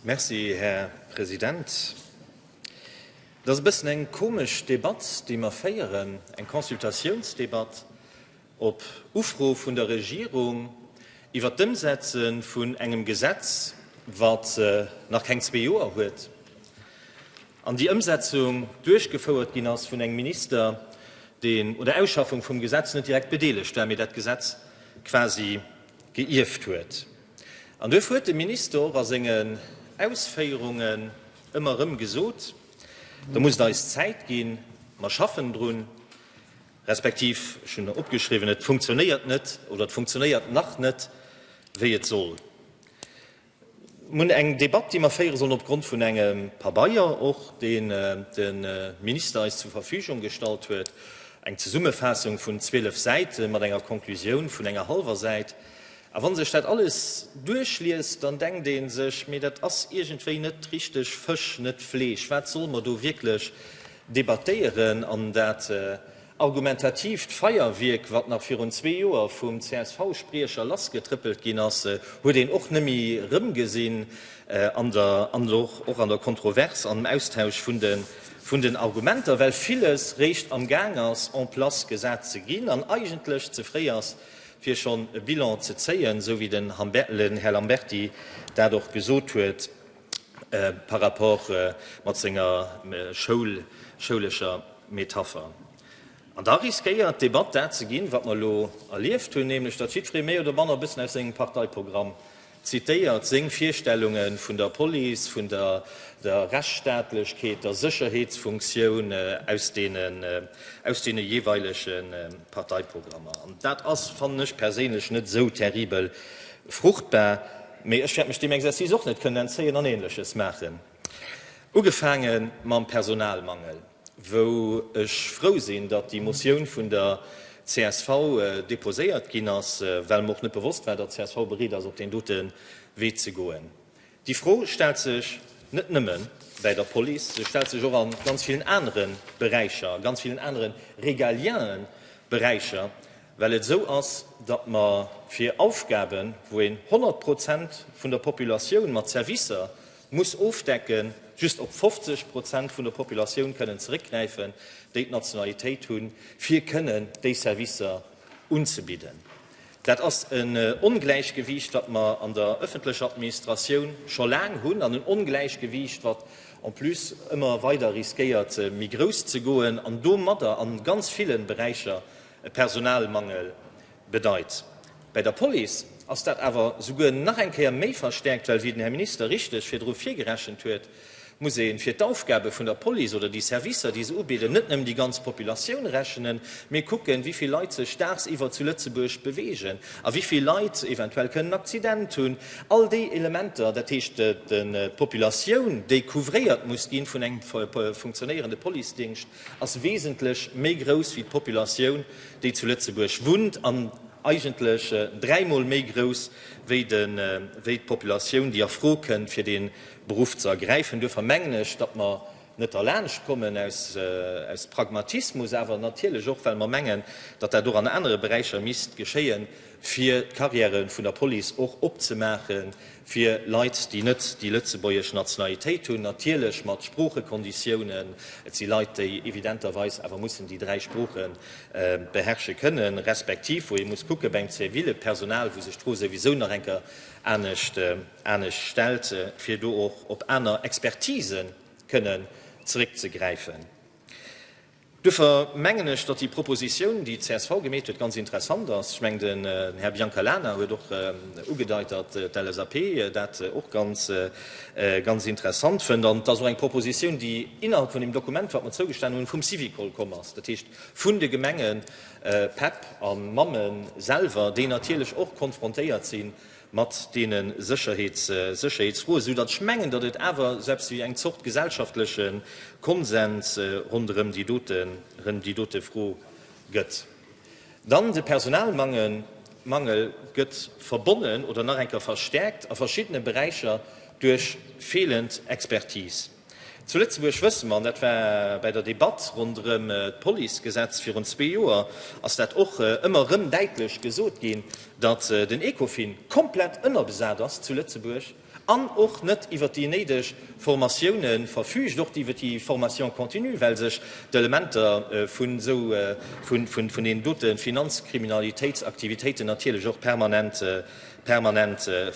Merci, Här President. Et ass e bëssen eng komesch Debatt, déi mer féieren, eng Consultatiounsdebatt op Ufro vun der Regierung iwwert d'Ëmsetze vun engem Gesetz, wat nach keng zwee Joer huet, an déi Ëmsetzung duerchgefouert ginn ass vun engem Minister, deen un der Ausschaffung vum Gesetz net direkt bedeelegt war, mee dat Gesetz quasi geierft huet. An duerf huet de Minister och a sengen Ausféierungen ëmmer erëm gesot, da muss et eis Zäit ginn, mer schaffen drun, respektiv, ech hunn opgeschriwwen, et funktionéiert net oder et funktionéiert nach net, wéi et soll. Mir hunn eng Debatt, déi mer féiere sollen opgrond vun engem Pabeier och, deen de Minister eis zur Verfügung gestallt huet, eng Zesummefaassung vun 12 Säite mat enger Konklusioun vun enger hallwer Säit. A wa sech dat alles duerchliest, dann denkt ee sech, mee dat ass iergendwéi net richteg Fësch, net Fleesch. Wat solle mer do wierklech debattéieren? An dat Argumentatiivt Feierwierk, wat nach virun zwee Joer vum CSV-Spriecher lassgetrëppelt ginn ass, huet een och net méi erëmgesinn an der, an elo och an der Kontrovers, an dem Austausch vun de, vun den Argumenter, well villes réischt am Gaang ass en place gesat ze ginn an eigentlech ze fréi ass, fir schonn e Bilan ze zéien, esou wéi den Här Lamberty dat och gesot huet. par rapport mat senger schoulescher Metapher. An da riskéiert d'Debatt dat ze ginn, wat mer elo erlieft hunn, nämlech datt jiddweree méi oder manner e bëssen aus sengem Parteiprogramm zitéiert, seng Virstellunge vun der Police, vun der Rechtsstaatlechkeet, der Sécherheetsfunktioun aus deene jeeweilege Parteiprogrammer. An dat ass, fannen ech perséinlech, net esou terribel fruchtbar. Mee ech wäert mech deem Exercice och net kënnen entzéien an Ähnleches maachen. Ugefaange mam Personalmangel, wou ech frou sinn, datt déi Motioun vun der csv deposéiert ginn ass, well mer och net bewosst war, datt csv bereet ass, op deen dote Wee ze goen. Déi Fro stellt sech net nëmme bäi der Police, se stellt sech och a ganz villen anere Beräicher, a ganz villen anere régalienen Beräicher. Well et esou ass, datt mer fir Aufgaben, wou een 100 Prozent vun der Populatioun mat Servicer muss ofdecken, just op 50 Prozent vun der Populatioun kënnen zeréckgräifen, déi d'Nationalitéit hunn, fir kënnen déi Servicer unzebidden. Dat ass en Ongläichgewiicht, wat mer an der ëffentlecher Administratioun scho laang hunn, an en Ongläichgewiicht, wat en plus ëmmer weider riskéiert, méi grouss ze goen an domadder a ganz ville Beräicher e Personalmangel bedeit. Bei der Police ass dat awer souguer nach eng Kéier méi verstärkt, well, wéi den Här Minister richteg virdru virgerechent huet, muss ee fir d'Aufgabe vun der Police oder déi Servicer, déi se ubidden, net nëmmen déi ganz Populatioun rechnen, mee kucken, wéi vill Leit sech dagsiwwer zu Lëtzebuerg bewegen a wéi vill Leit eventuell kënnen en Accident hunn. All déi Elementer, dat heescht d'Populatioun, déi couvréiert muss gi vun engem funktionéierende Policedingscht, ass wesentlech méi grouss wéi d'Populatioun déi zu Lëtzebuerg wunnt an eigentlech dräimol méi grouss wéi d'Populatioun déi a Fro kënnt fir dee Beruff ze ergräifen. Duerfir mengen ech, datt mer net derlaanscht kommen, aus Pragmatismus awer natierlech och well mer mengen, datt dat och an anere Beräicher misst geschéien, fir d'Carrièrë vun der Police och opzemaache fir Leit, déi net déi lëtzebuergesch Nationalitéit hunn, natierlech mat Sproochekonditiounen. Et si Leit, déi evidenterweis awer mussen déi dräi Sprooche beherrsche kënnen, respektiv wou ee muss kucke beim zivile Personal, wou sech d'Fro souwisou nach eng Kéier anescht stellt, fir do och op aner Expertisen kënnen zeréckzegräifen. Duerfir mengen ech, datt déi Proposition, déi csv gemeet huet, ganz interessant ass. Ech mengen, den Här Biancalana huet och ugedeit, datt d'LSAP dat och ganz, ganz interessant fënnt. An et ass och eng Proposition, déi innerhalb vun deem Dokument, wat mer zougestanen hunn, vum Syvicol komm ass, dat heescht vun de Gemengen, Päpp a Mammen selwer, déi natierlech och konfrontéiert sinn, mat deene Sécherheetsfroe, esou datt ech mengen, datt et awer esou eppes wéi eng Zort gesellschaftleche Konsens ronderëm déi dote Fro gëtt. Dann de Personalmangel gëtt verbonnen oder nach eng Kéier verstäerkt a verschiddene Beräicher duerch feelend Expertise. Zu Lëtzebuerg wësse mer, an dat war bäi der Debatt ronderëm d'Policegesetz virun zwee Joer, ass dat och ëmmer erëm däitlech gesot ginn, datt den Ecofin komplett ënnerbesat ass zu Lëtzebuerg an och net iwwert déi néideg Formatioune verfüügt, och iwwert déi Formation continue, well sech d'Elementer vun deenen dote Finanzkriminalitéitsaktivitéiten natierlech och permanent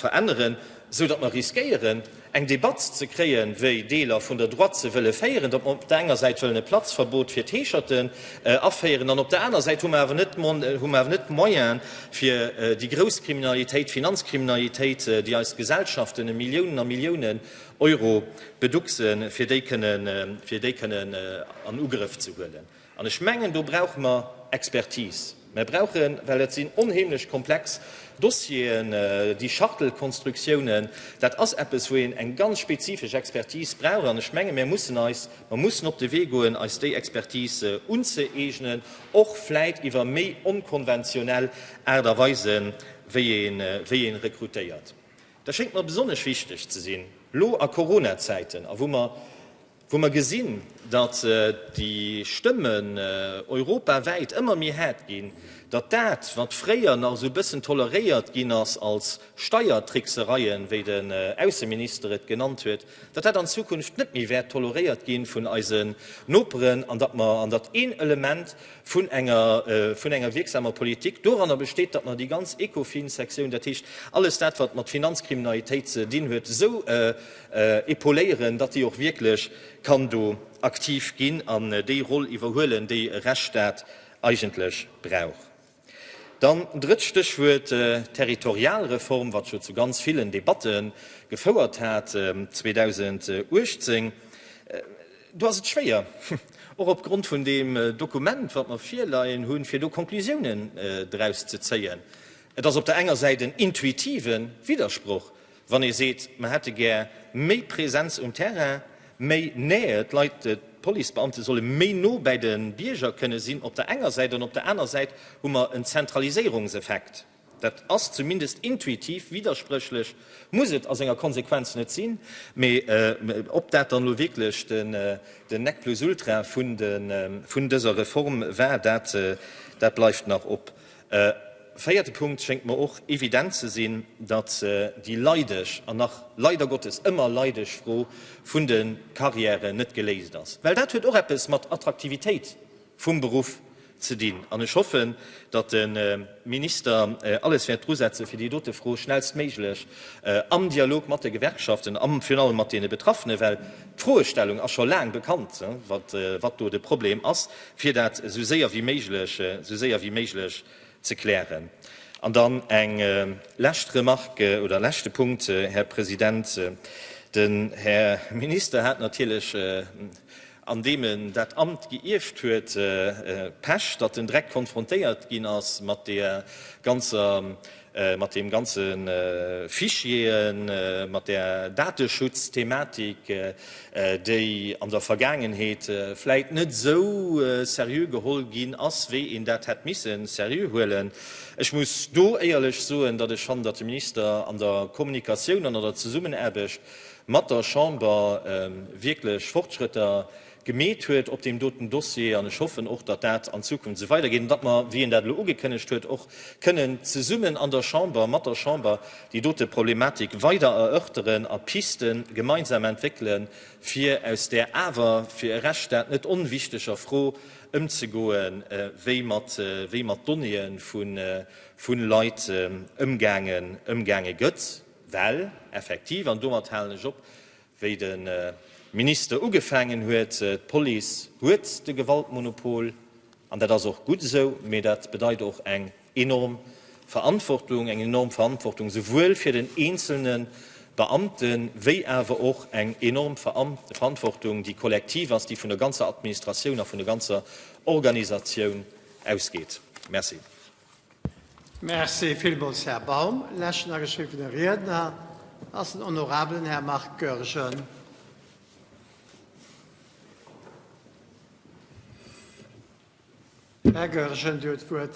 veränneren. esou datt mer riskéieren, eng Debatt ze kréien, wéi Deeler vun der Droite se wëlle féieren, datt mer op der enger Säit wëllen e Platzverbot fir d'Heescherten aféieren an op der aner Säit hu mer awer net, hu mer awer net d'Moyen, fir déi grouss Kriminalitéit, d'Finanzkriminalitéit, déi eis Gesellschaften e Milliounen a Milliounen Euro beducksen, fir déi kënnen, fir déi kënnen an Ugrëff ze huelen. An ech mengen, do brauche mer Expertise. Mer brauchen, well et sinn onheemlech komplex Dossieren, déi Schachtelkonstruktiounen, dat ass eppes, wou een eng ganz spezifesch Expertise brauch. An ech mengen, mer mussen eis, mer mussen op de Wee goen, eis déi Expertise unzëeegnen, och vläit iwwer méi onkonventionell Aart a Weisen, wéi een, wéi een rekrutéiert. Dat schéngt mer besonnesch wichteg ze sinn, lo a Coronazäiten a wou mer, wou mer gesinn, datt déi Stëmmen europawäit ëmmer méi haart ginn, datt dat, wat fréier nach esou e bëssen toleréiert ginn ass als Steiertricksereien, wéi den Ausseminister et genannt huet, datt dat an Zukunft net méi wäert toleréiert gi vun eisen Noperen an datt mer, an datt een Element vun enger, vun enger wierksamer Politik doranner besteet, datt mer déi ganz Ecofin-Sektioun, dat heescht alles dat, wat mat Finanzkriminalitéit ze dinn huet, esou Epauléieren, datt déi och wierklech kann do aktiv ginn an déi Roll iwwerhuelen, déi e Rechtsstaat eigentlech brauch. Dann drëtt Stéchwuert, Territorialreform, wat jo zu ganz villen Debatte gefouert hat 2018. Do ass et schwéier, och opgrond vun deem Dokument, wat mer virleien hunn, fir do Conclusiounen draus ze zéien. Et ass op der enger Säit en intuitiven Widdersproch, Wann ee seet, mer hätte gär méi Präsenz um Terrain, méi Nähe, d'Leit, d'Policebeamte solle méi no bäi de Bierger kënne sinn op der enger Säit an op der aner Säit hu mer en Zentraliséierungseffekt, dat ass zumindest intuitiv widderspréchlech, muss et a senger Konsequenz net sinn, mä ob dat dann elo wierklech den Nec plus ultra vun dëser Reform war, dat bleift nach op. E véierte Punkt schéngt mer och evident ze sinn, datt déi leideg an nach leider Gottes ëmmer leideg Fro vun de Carrièren net geléist ass, well dat huet och eppes mat Attraktivitéit vum Beruff ze dinn. An ech hoffen, datt de Minister alles wäert dru setzen, fir déi dote Fro schnellstméiglech am Dialog mat de Gewerkschaften a virun allem mat deene Betraffenen, well d'Froestellung ass scho laang bekannt, wat do de Problem ass, fir dat esou séier wéi méiglech, esou séier wéi méiglech ze klären. An dann eng lescht Remarque oder leschte Punkt, Här President. Den Här Minister hat natierlech, an deem en dat Amt geierft huet, Pech, datt en direkt konfrontéiert ginn ass mat deer ganzer mat deem ganze Fichieren, mat där Dateschutz-Thematik, déi an der Vergaangenheet vläicht net esou seriö geholl ginn ass, wéi een dat hätt misse seriö huelen. Ech muss do éierlech soen, datt ech fannen, datt de Minister an der Kommunikatioun an an der Zesummenaarbecht mat der Chamber wierklech Fortschrëtter gemeet huet op deem doten Dossier, an ech hoffen och, datt dat an Zukunft esou weidergeet an datt mer, wéi en dat elo ugekënnegt huet, och kënnen zesummen an der Chamber, mat der Chamber, déi dote Problematik weider erörteren a Pisten gemeinsam entwéckelen, fir aus där awer fir e Rechtsstaat net onwichteger Fro ëmzegoen, wéi mat wéi mat Donnéeë vu Leit ëmgaange gëtt. Well effektiv, an domat halen ech op, Wéi de Minister ugefaangen huet, D'Police huet de Gewaltmonopol, an dat ass och gutt esou. Mee dat bedeit och eng enorm Verantwortung, eng enorm Verantwortung souwuel fir den eenzelne Beamte wéi awer och eng enorm Verantwortung, déi kollektiv ass, déi vun der ganzer Administratioun a vun der ganzer Organisatioun ausgeet. Merci. Merci villmools, Här Baum. Leschten ageschriwwene Riedner ass den honorabelen Här Marc Goergen. Här Goergen, Dir huet d'Wuert.